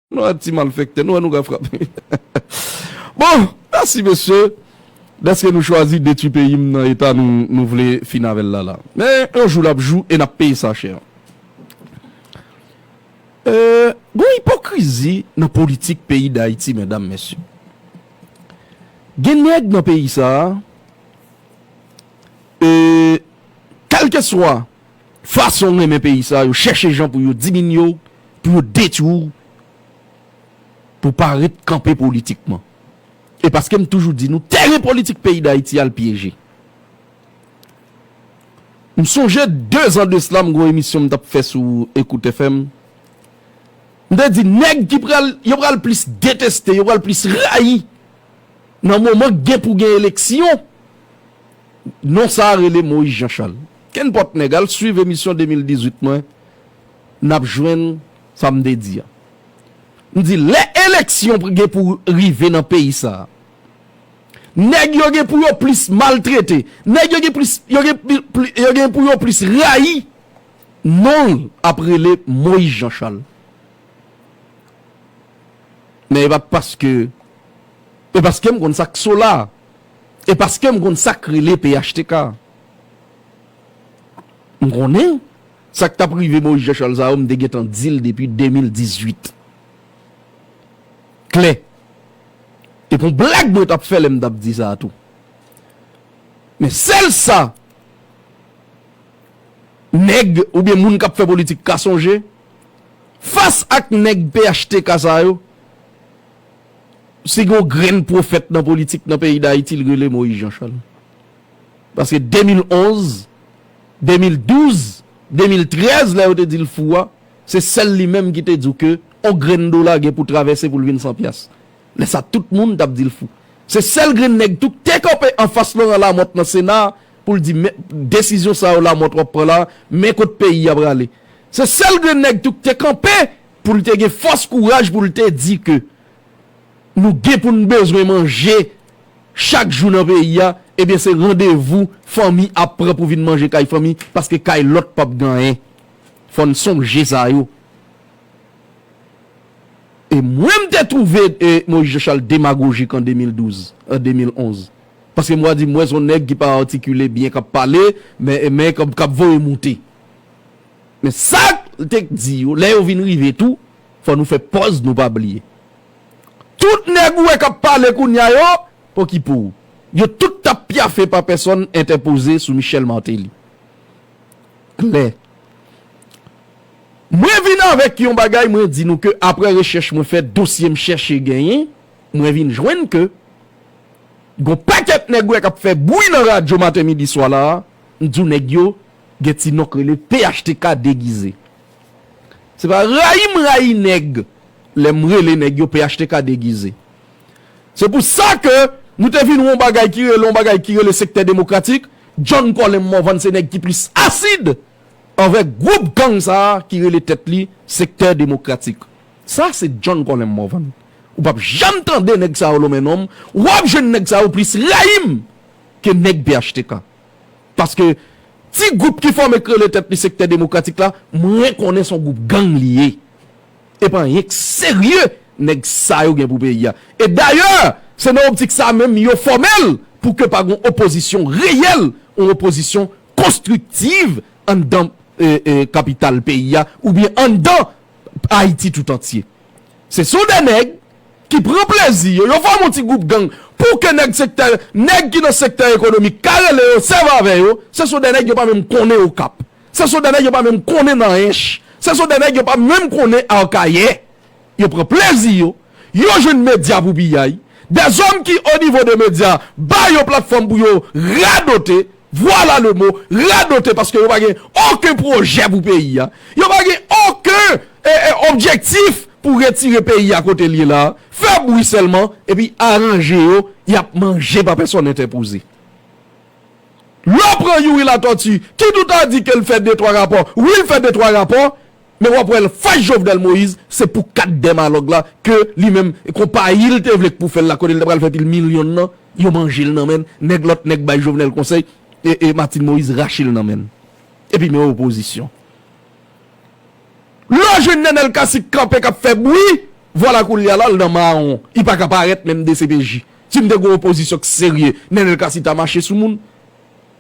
Nou wè ti malfèktè, nou wè nou ka frape. Bon, mèsi mesye, dèske nou chwazi detwi peyi m nan eta nou vle fin avè l la la. Men, yon jou l ap jou e n ap peye sa chè. Gon ipokrizi nan politik peyi Dayiti medam mesye. Gen nèg nan peyi sa a, e kèlkeswa. fason renmen peyi sa yo chèche jan pou yo diminye w, pou yo detwi w, pou w pa ret kanpe politikman. E paske m toujou di nou tèren politik peyi Dayiti a l pyeje. M sonje dezan de sla m gen yon emisyon m t ap fè sou Ecoute FM, m te di nèg ki pral, yo pral plis deteste, yo pral plis rayi nan moman gen pou gen eleksyon, Non sa a rele Moïse Jean Charles. Kenpòt nèg al swiv emisyon 2018 mwen n ap jwenn sa m te di a. M di lè eleksyon gen pou rive nan peyi sa a, nèg yo gen pou yo plis maltrete, nèg yo gen plis yo gen yo gen pou yo plis rayi non l ap rele Moïse Jean Charles. Men e pa paske e paske m konn sa k so la a. E paske m konn sa k rele phtk. M konnen sa k t ap rive Moyiz Janchal sa yo m te gentan di l depi 2018. Klè. E pou blag mwen t ap fè lè m t ap di sa a tou. Men sèl sa nèg oubyen moun k ap fè politik ka sonje, fas ak nèg phtk sa yo, Si gen yon grenn pwofèt nan politik nan peyi Dayiti, li rele Moyiz Janchal. Paske 2011, 2012, 2013 lè yo te di l fou a, se sèl li menm ki te di w ke yon grenn dola gen pou travèse pou l vin san pyas. Lè sa tout moun t ap di l fou. Se sèl grenn nèg tou k te kanpe anfas Loran Lamòt nan Sena a pou l di men desizyon sa yo Lamòt w ap pran la, men kot peyi a prale. Se sèl grenn nèg tou k te kanpe Pou l te gen fòs kouraj pou l te di ke nou gen pou n bezwen manje chak jou nan peyi a, ebyen se randevou fanmi ap pran pou vin manje kay fanmi paske kay lòt pap gen anyen. Fò n sonje sa yo. E mwen m te twouve Moïse Jean Charles demagojik an 2012, an 2011. Paske mwen di m wè s on nèg ki pa atikile byen k ap pale men k ap voye moute. Men sa l te k di yo, Lè yo vin rive tou, fò nou fè pòz nou pa bliye. Tout nèg ou wè k ap pale kounye a yo, pokipou, yo tout t ap pyafe pa pèsòn entèpoze sou Michel Martelly. Klè. Mwen vin avèk yon bagay mwen di nou ke aprè rechèch mwen fè, dosye m chèche genyen, mwen vin jwenn ke gon pakèt nèg ou wè k ap fè bwi nan radyo maten midi swa la a, m di w nèg yo Gen ti non k rele phtk degize. Se pa rayi m rayi nèg lè m rele nèg yo phtk degize. Se pou sa ke nou te vin wè yon bagay ki rele yon bagay ki rele Sektè Demokratik, John Colem Morvan se nèg ki plis asid anvè gwoup gang sa a ki rele tèt li Sektè Demokratik. Sa se John Colem Morvan. Ou pap janm tande nèg sa yo lonmen non m. Wap jwenn nèg sa yo plis rayi m ke nèg phtk. Paske ti gwoup ki fòme k rele tèt li sektè demokratik la, mwen konnen son gwoup gang li ye. E pa anyen k serye nèg sa yo gen pou peyi a. E dayè se nan optik sa menm yo fòme l pou ke pa gon opozisyon reyèl, on opozisyon konstriktiv anndan kapital peyi a oubyen anndan Ayiti toutantye. Se son de nèg. ki pran plezi yo, yo fòme yon ti gwoup gang pou ke nèg sektè, nèg ki nan sektè ekonomik ka rele yo, sèvi avè yo, se son dè nèg yo pa menm konnen Okap, se son dè nèg yo pa menm konnen nan Ench, se son dè nèg yo pa menm konnen Akayè. Yo pran plezi yo, yo jwenn medya pou piyay, dè zòm ki onivo de medya ba yo platfòm pou yo radote, Vwala le mo, radote paske yo pa gen oken pwojè pou peyi a. Yo pa gen oken objektif pou retire peyi a kote l ye la a. Fè bwi sèlman epi aranje yo y ap manje pa pèsòn entèpoze. Lè w pran Youri Latortue ki tout a di ke l fè de twa rapò, wi l fè de twa rapò, Men wap wè anfas Jovenel Moïse se pou kat dèmalòg la ke li menm konpayi l te vle k pou fè l la kote l ta pral fè pil milyon nan yo manje l nan men l nèg lòt nèg bay Jovenel konsèy e Martine Moïse rache l nan men l epi men opozisyon lè w jwenn Nenel Cassy k kanpe kap fè bwi vwala koulya la l nan mawon li paka parèt menm dcpj si m te gon opozisyon k serye Nenel Cassy ta mache sou moun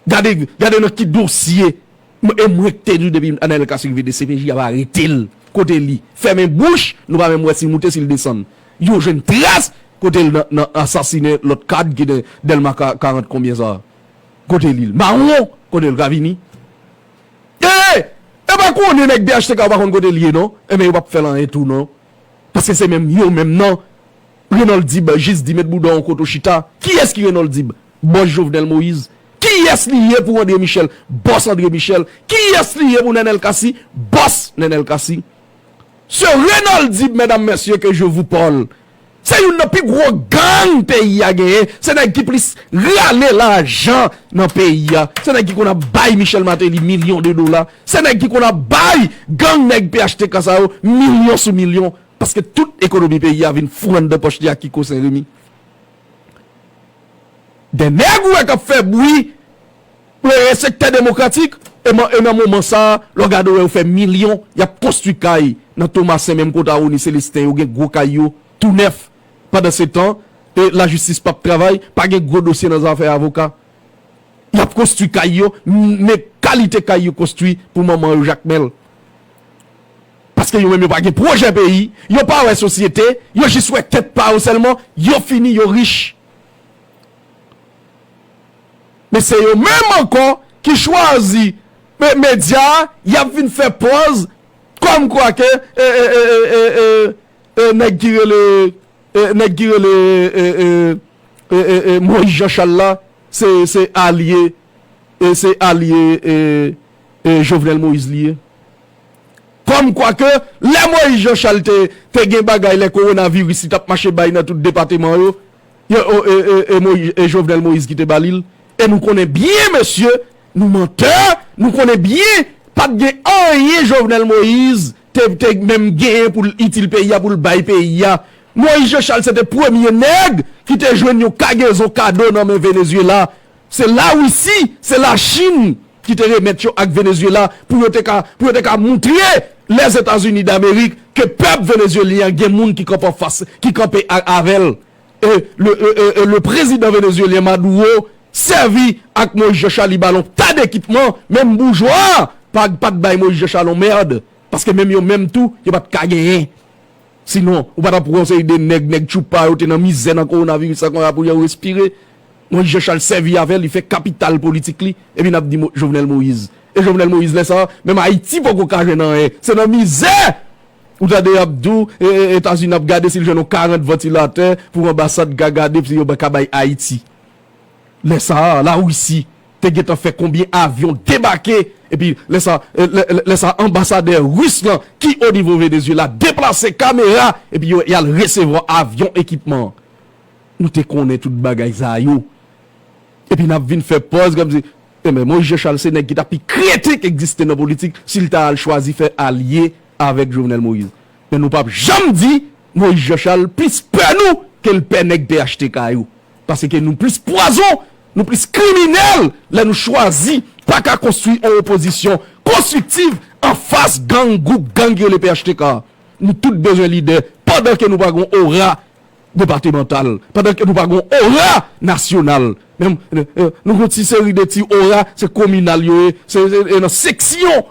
gade gade nan ki dosye M e m rekte di w depi Anael Cacique vle dcpj ap arete l kote li fèmen bouch nou pa menm wè si l moute si l desann yo jwenn tras kote l nan nan asasine lòt kad ki nan Dèlma 40 konbyen sa kote li l mawon kote l ka vini ee yo pa konnen nèg phtk yo pa konn kote l ye non enben yo p ap fè l anyen tou non paske se menm yo menm nan Renold Dib jis di met bouda w kote w chita kiyès ki Renold Dib Boss Jovenel Moïse kiyès li ye pou André Michel Boss André Michel kiyès li ye pou Nenel Cassy Boss Nenel Cassy Ce Renoldib medam mesye ke je vou parle se youn nan pi gro gang peyi a genyen se nèg ki plis rale lajan nan peyi a se nèg ki konn ap bay Michel Martelly milyon de dola se nèg ki konn ap bay gang nèg phtk sa yo milyon sou milyon paske tout ekonomi peyi a vin fou anndan pòch li ak Kiko Senremi. 2 nèg ou wè k ap fè bwi pou e sektè demokratik e nan moman sa a lè w gade yo yo fè milyon y ap konstwi kay nan Tomasen menm kot a Rony Celestin yo gen gwo kay yo tou nèf pandansetan e lajistis p ap travay pa gen gwo dosye nan zafè avoka y ap konstwi kay yo men kalite kay yo konstwi pou manman yo Jakmèl. Paske yo menm yo pa gen pwojè peyi, yo pa wè sosyete, yo jis wè tèt pa yo sèlman, yo fini, yo rich. Men se yo menm ankò ki chwazi medya a, y ap vin fè pòz kòm kwa ke nèg ki rele nèg ki rele Moyiz Janchal la se alye se alye Jovenel Moïse li ye. Kòm kwa ke lè Moïse Jean Charles te te gen bagay lè korona viris li tap mache bay nan tout depateman yo e Jovenel Moïse ki te ba li l e nou konnen byen mesye nou mantè nou konnen byen pat gen anyen Jovenel Moïse te te menm genyen pou l itil peyi a pou l bay peyi a Moïse Jean Charles se te premye nèg ki te jwenn yon kagezon kado nan men Venezuela se lawisi se lachine ki te remèt yo ak Venezuela pou yo te ka pou yo te ka moutre Lèzetazini Damerik ke pèp Venezuelyen an gen moun ki kanpe anfas ki kanpe a avè l e le e e e le prezidan Venezuelyen Maduro sèvi ak Moise Jean Charles li ba l yon ta dekipman menm boujwa pa pa t bay Moise Jean Charles yon mèrd paske menm yo menm tou yo pa t ka genyen Si non, ou pa t ap wè yon seri de nèg, nèg tchoupa yo te nan mizè nan kowonaviris la kon ya pou yo respire. Moise Jean Charles sèvi avè li fè kapital politik li epi n ap di Jovenel Moise. E Jovenel Moise lè sa a, menm Ayiti poko ka jwenn anyen. Se nan mizè! Ou tande y ap di w Etazini ap gade si l jwenn yon 40 vantilatè pou anbasad ka gade si yo ka bay Ayiti. Lè sa a, Larisi. te gentan fè konbyen avyon debake epi lè sa lè sa anbasadè Ris lan ki o nivo Venezyela deplase kamera epi yo y al resevwa avyon ekipman an. Nou te konnen tout bagay sa yo epi n ap vin fè pòz kòmsi enben Moyiz Janchal se nèg ki ta pi kreten k egziste nan politik si l ta al chwazi fè alye avèk Jovenel Moïse men nou p ap janm di Moyiz Janchal plis pè nou ke l pè nèg phtk yo. Paske nou plis pwazon, nou plis kriminèl lè nou chwazi pa ka konstwi on opozisyon konstriktiv an fas gang gwoup gang ki rele phtk a. Nou tout bezwen lidè pandan ke nou pa gon ora depatemantal, pandan ke nou pa gon ora nasyonal. Menm nou gon ti seri de ti ora se kominal yo ye, se nan seksyon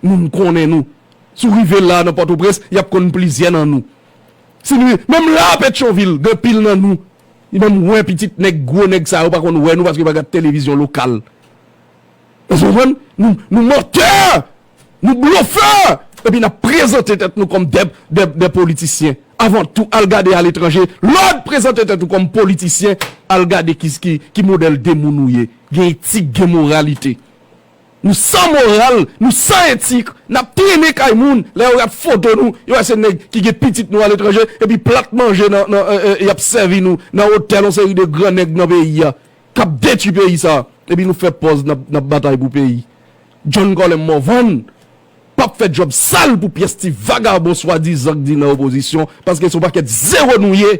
moun konnen nou. Si w rive la nan Pòtoprens, y ap konn plizyè nan nou. Sin wi, menm la a Petyonvil gen pil nan nou ki menm wè pitit nèg gwo nèg sa yo pa konn wè nou paske yo pa gad televizyon lokal. Èske w konprann? Nou mantè! Nou blofè! Epi n ap prezante tèt nou kòm dè politisyen. Avan tou, al gade aletranje, lè w prezante tèt ou kòm politisyen, al gade ki modèl de moun ou ye. Gen etik, gen moralite. Nou san moral, nou san etik, nap trennen kay moun, lè yo gad foto nou, yo wè se nèg ki gen pitit nou aletranje, epi plat manje nan nan yap sèvi nou nan otèl yon seri de gran nèg nan peyi a, kap detwi peyi sa, epi nou fè pòz nap nap batay pou peyi. John Colem Morvan pap fè djòb sal pou pyès ti vagabon swadizan k di nan opozisyon, paske se yon pakèt zewo nou ye,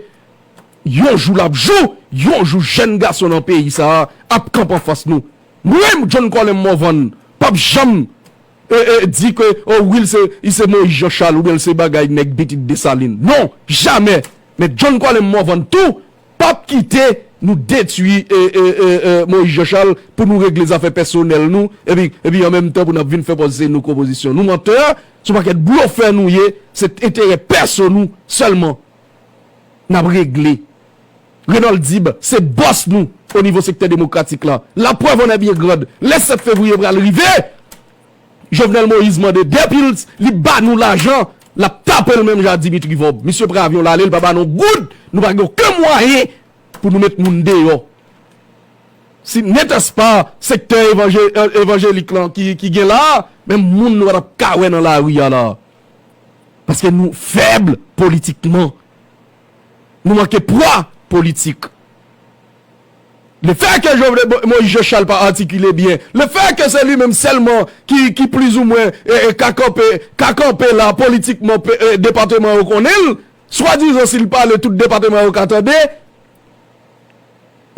yon jou lap jou, yon jou jèn gason nan peyi sa ap kanpe anfas nou, M renmn John Colin Morvan pap janm Di ke oh wi li se Moïse Jean Charles oubyen li se bagay nèg pitit Dessalines non jamè men John Colin Morvan tou pap kite nou detwi Moïse Jean Charles pou nou regle zafè pèsonèl nou epi an menm tan pou nap vin fè pòz se nou ki opozisyon nou mantè son pakèt blofè nou ye se enterè pèso nou sèlman nap regle. Renold Dib se bòs nou o nivo sektè demokratik la. La prèv an è byen grand, lè 7 fevriye pral rive, Jovenel Moïse mande de pils, li ba nou lajan, l ap tape l menm jan a Dimitri Vorb. Misye pran avyon l ale, l pa ba nou yon goud, nou pa gen oken mwayen pou nou met moun deyò. Si n'etait-ce pas sektè evanjelik lan ki gen la a, menm moun nou pa t ap ka wè nan lari a la a. Paske nou fèb politikman. Nou manke pwa politik. Le fè ke Jovenel Moïse Jean Charles pa atikile byen, le fè ke se li menm sèlman ki plizoumwen ka kanpe, ka kanpe la politikman depateman yo konnen l, swadizan si l pale tout depateman yo ka tande,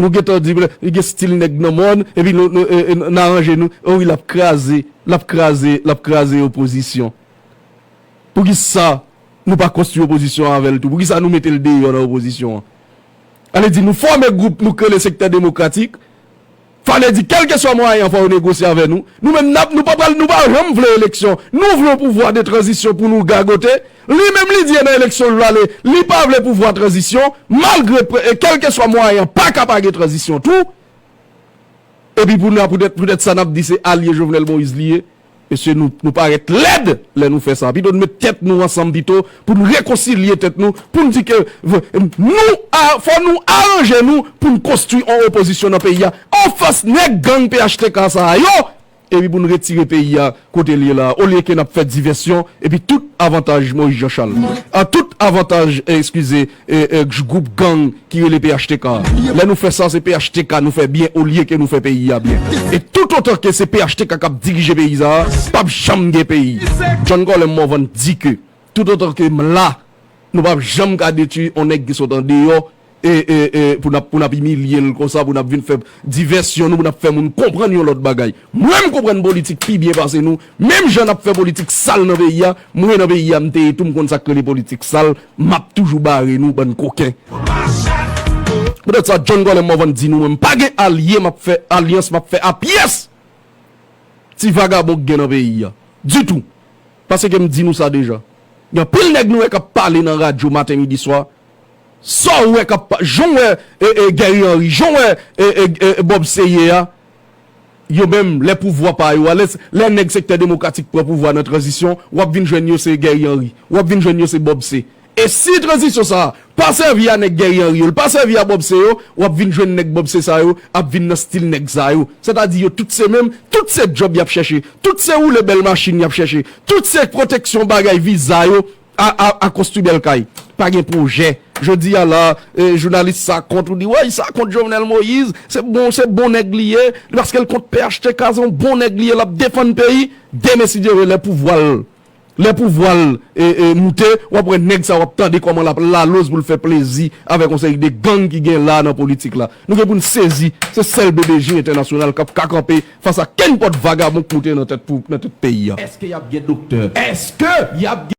nou gentan di li gen stil nèg nan mòn epi n aranje nou, o wi l ap kraze, l ap kraze, l ap kraze opozisyon. Poukisa nou pa konstwi opozisyon an avè l tou? Poukisa nou mete l deyò nan opozisyon an? A le di nou fòme gwoup nou k rele sektè demokratik, fa le di kèlkeswa mwayen an fò yo negosye avè nou. Nou menm n ap, nou pa pral, nou pa janm vle eleksyon. Nou vle yon pouvwa de tranzisyon pou nou gagote. Li menm li di e nan eleksyon l prale, li pa vle pouvwa tranzisyon, malgre pre, e kèlkeswa mwayen an pa ka pa gen tranzisyon tou. Epi pou n a poutèt, poutèt sa n ap di se alye Jovenel Moïse li ye. Mesye nou parèt lèd lè nou fè sa. Pito nou met tèt nou ansanm pito pou nou rekonsilye tèt nou pou nou di ke nou fò nou aranje nou pou nou konstwi yon opozisyon nan peyi a anfas nèg gang phtk sa a yo epi pou nou retire peyi a kote li ye la a olye ke n ap fè divèsyon epi tout avantaj Moyiz Janchal a tout avantaj eskize gwoup gang ki rele phtk a. Lè nou fè sa se phtk nou fè byen olye ke nou fè peyi a byen. E tout otan ke se phtk kap dirije peyi sa a, pap janm gen peyi. John Colem Morvan di ke tout otan ke m la, nou pap janm ka detwi on nèg ki sot andeyò pou n ap imilye l konsa, pou n ap vin fè divèsyon nou, pou n ap fè moun konprann yon lòt bagay. Mwen m konprann politik pi byen pase nou, menm jan nap fè politik sal nan peyi a, mwen nan peyi a m te ye tou m konn sak rele politik sal, map toujou bare nou bann koken. Poutèt sa John Colem mwen van di nou mwen m pa gen alye map fè alyans map fè a pyès ti vagabon k gen nan peyi a ditou paseke m di nou sa deja gen anpil nèg nou wè kap pale nan radyo maten midi swa sa w wè kap janw wè Guerry Henry janw wè Bob Seye a Yo menm lè pouvwa pa yo a lè lè nèg sektè demokratik pran pouvwa nan tranzisyon wap vin jwenn yo se Guerry Henry wap vin jwenn yo se Bob C e si tranzisyon sa pa sèvi a nèg Guerry Henry yo l pa sèvi a Bob C yo wap vin jwenn nèg Bob C sa yo ap vin nan stil nèg sa yo sètadi yo tout se menm tout se djòb yap chèche tout se woule bèl machin yap chèche tout se pwoteksyon bagay viza yo Aa konstwi bèl kay pa gen pwojè jodi a la jounalis sa kont ou di woy sa kont Jovenel Moïse se bon se bon nèg li ye li paske l kont phtk se yon bon nèg li ye l ap defann peyi demen si Dye vle lè pouvwa l lè pouvwa l moute w ap wè nèg sa w ap tande kòman l ap laloz pou l fè plezi avèk yon seri de gang ki gen la nan politik la nou gen pou n sezi se sèl BBJ entènasyonal k ap ka kanpe Fas a kenpòt vagabon k moute nan tèt pou nan tout peyi a. Eske yap gen doktè? Eske yap gen.